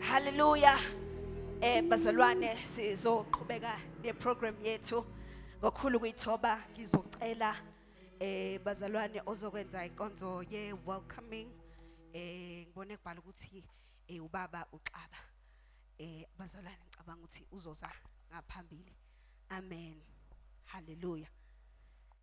Hallelujah. Eh bazalwane sizoqhubeka ne program yethu ngokukhulu kuyithoba ngizocela eh bazalwane ozokwenza inkonzo ye welcoming eh ngibone kubhala ukuthi eh ubaba uxaba eh bazalwane ngicabanga ukuthi uzoza ngaphambili amen hallelujah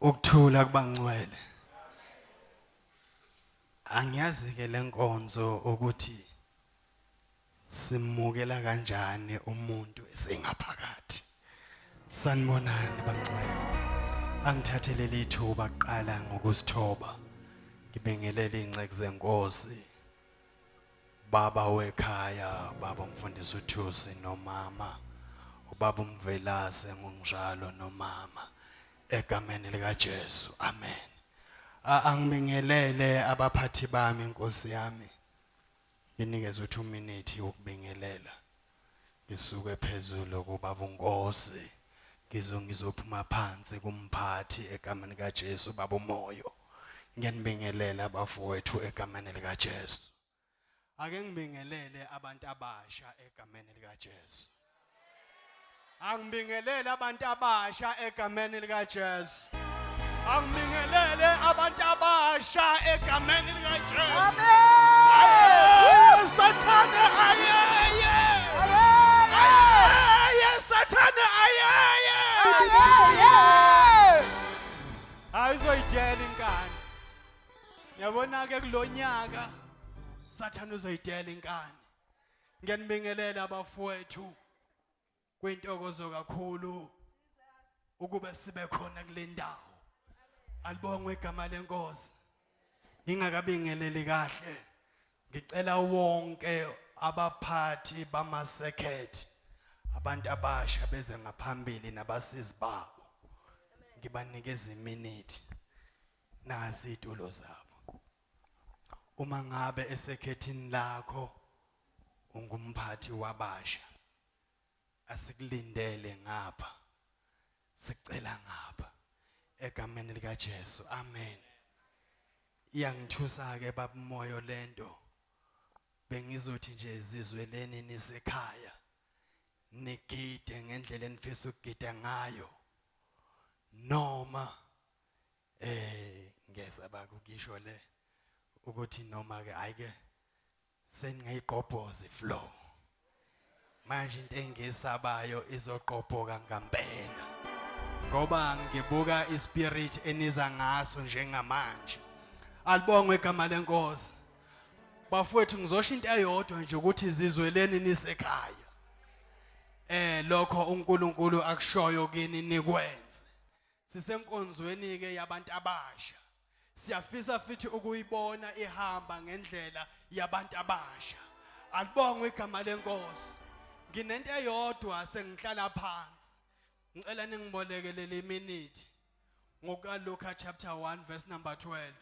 Ukuthula kubangcwele. Angiyazi ke lenkonzo ukuthi simukela kanjani umuntu esengaphakathi. Sanibonani bangcwele. Angithathele lithuba kuqala ngokusithoba. Ngibingelele inceku zenkosi. Ubaba wekhaya ubaba umfundisi uThusi nomama ubaba uMvelase ngunjalo nomama egameni lika Jesu amen A angibingelele abaphathi bami Nkosi yami nginikeze uthi uminithi wokubingelela. Ngisuke phezulu kubaba uNkosi ngizo ngizophuma phansi kumphathi egameni kaJesu baba uMoyo ngiyanibingelela abafowethu egameni likaJesu Ake ngibingelele abantu abasha egameni likaJesu Angibingelele abantu abasha egameni likaJesu. Angibingelele abantu abasha egameni likaJesu. Amen. Sathane ayeye. Ayeye Sathane ayeye. Ayizoyidela inkani. Yabona ke kulonyaka Sathane uzoyidela inkani. Ngiyanibingelela abafowethu. Kwintokozo kakhulu ukuba sibe khona kule ndawo. Alibongwe igama lenkosi. Ngingakabingeleli kahle. Ngicela wonke abaphathi bama circuit abantu abasha beze ngaphambili nabasizi babo. Ngibanikeza iminute. Nazi itulo zabo. Uma ngabe esekhethini lakho ungumphathi wabasha asikulindele ngapha sicela ngapha egameni lika Jesu amen iyangithusa ke babumoyo lento bengizothi nje zizweleni nisekhaya nigide ngendlela enifisa ukugida ngayo noma eh ngiyasaba ukukisho le ukuthi noma ke ayike seningayigqobhozi flow manje into engisabayo izogqobhoka ngampela ngoba ngibuka ispirit eniza ngaso njengamanje alibongwe igama lenkosi bafowethu ngizosho into eyodwa nje ukuthi izizweleni nisekhaya eh lokho uNkulunkulu akushoyo kini nikwenze sisenkonzweni ke yabantu abasha Siyafisa futhi ukuyibona ihamba ngendlela yabantu abasha. Alibongwe igama lenkosi. Nginento eyodwa sengihlala phansi. Ngicela ningibolekelele iminute ngokukaLuka chapter 1 verse number 12.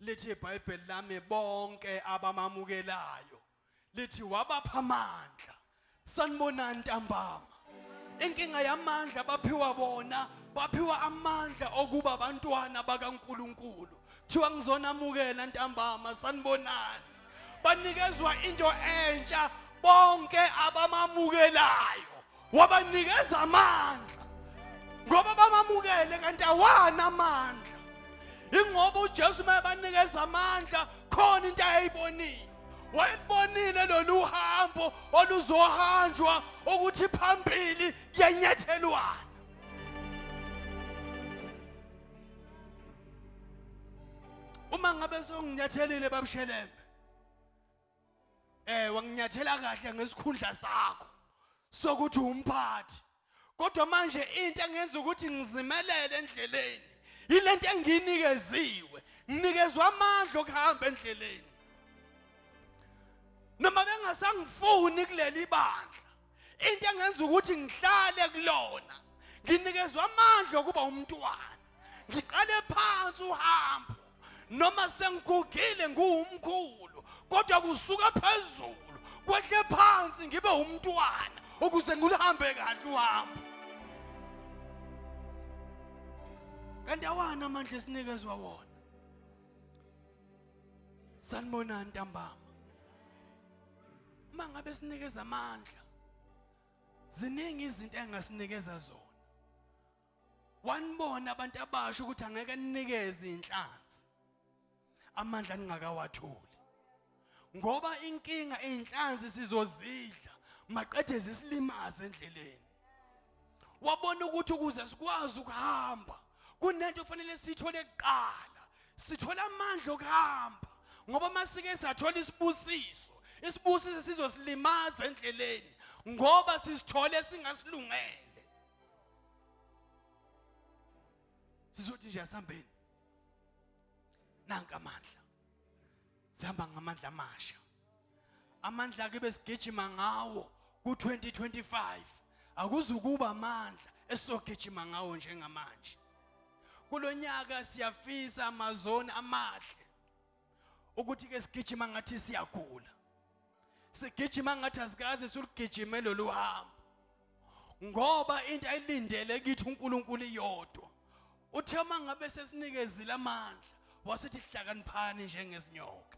Lithi iBhayibheli lami bonke abamamukelayo lithi wabapha amandla sanibonani ntambama inkinga yamandla baphiwa bona baphiwa amandla okuba abantwana bakaNkuluNkulu kuthiwa ngizonamukela ntambama sanibonani banikezwa into entsha bonke abamamukelayo wabanikeza amandla ngoba bamamukele kanti awana amandla ingoba uJesu mayebanikeza amandla khona into ayayibonile wayelibonile lolu hambo oluzohanjwa ukuthi phambili kuyanyathelwana uma ngabe songinyathelile babushelembe eh wanginyathela kahle ngesikhundla sakho sokuthi umphathi kodwa manje into engenza ukuthi ngizimelele endleleni yilento enginikeziwe nginikezwa amandla okuhamba endleleni noma bengasangifuni kuleli bandla into engenza ukuthi ngihlale kulona nginikezwa amandla okuba umntwana ngiqale phansi uhambo noma sengigugile nguwumkhulu kodwa kusuka phezulu kwehle phansi ngibe umntwana ukuze ngilihambe kahle uhambo kanti awani amandla esinikezwa wona sanibonani ntambama uma ngabe sinikeza amandla ziningi izinto engasinikeza zona wanibona abantu abasha ukuthi angeke ninikeze inhlanzi amandla ningakawatholi ngoba inkinga izinhlanzi sizozidla maqede zisilimaze endleleni wabona ukuthi ukuze sikwazi ukuhamba kunento ofanele siyithole kuqala sithola amandla okuhamba ngoba masike sathola isibusiso isibusiso sizosilimaza endleleni ngoba sisithole singasilungele sizothi nje asihambeni nanka amandla sihamba ngamandla amasha amandla akhe besigijima ngawo ku-2025 akuzukuba amandla esizogijima ngawo njengamanje kulo nyaka siyafisa amazoni amahle ukuthi ke sigijima ngathi siyagula sigijima ngathi asikaze siligijime lolu hambo ngoba into ayilindele kithi uNkulunkulu iyodwa uthe uma ngabe sesinikezile amandla wasithi hlakaniphani njengezinyoka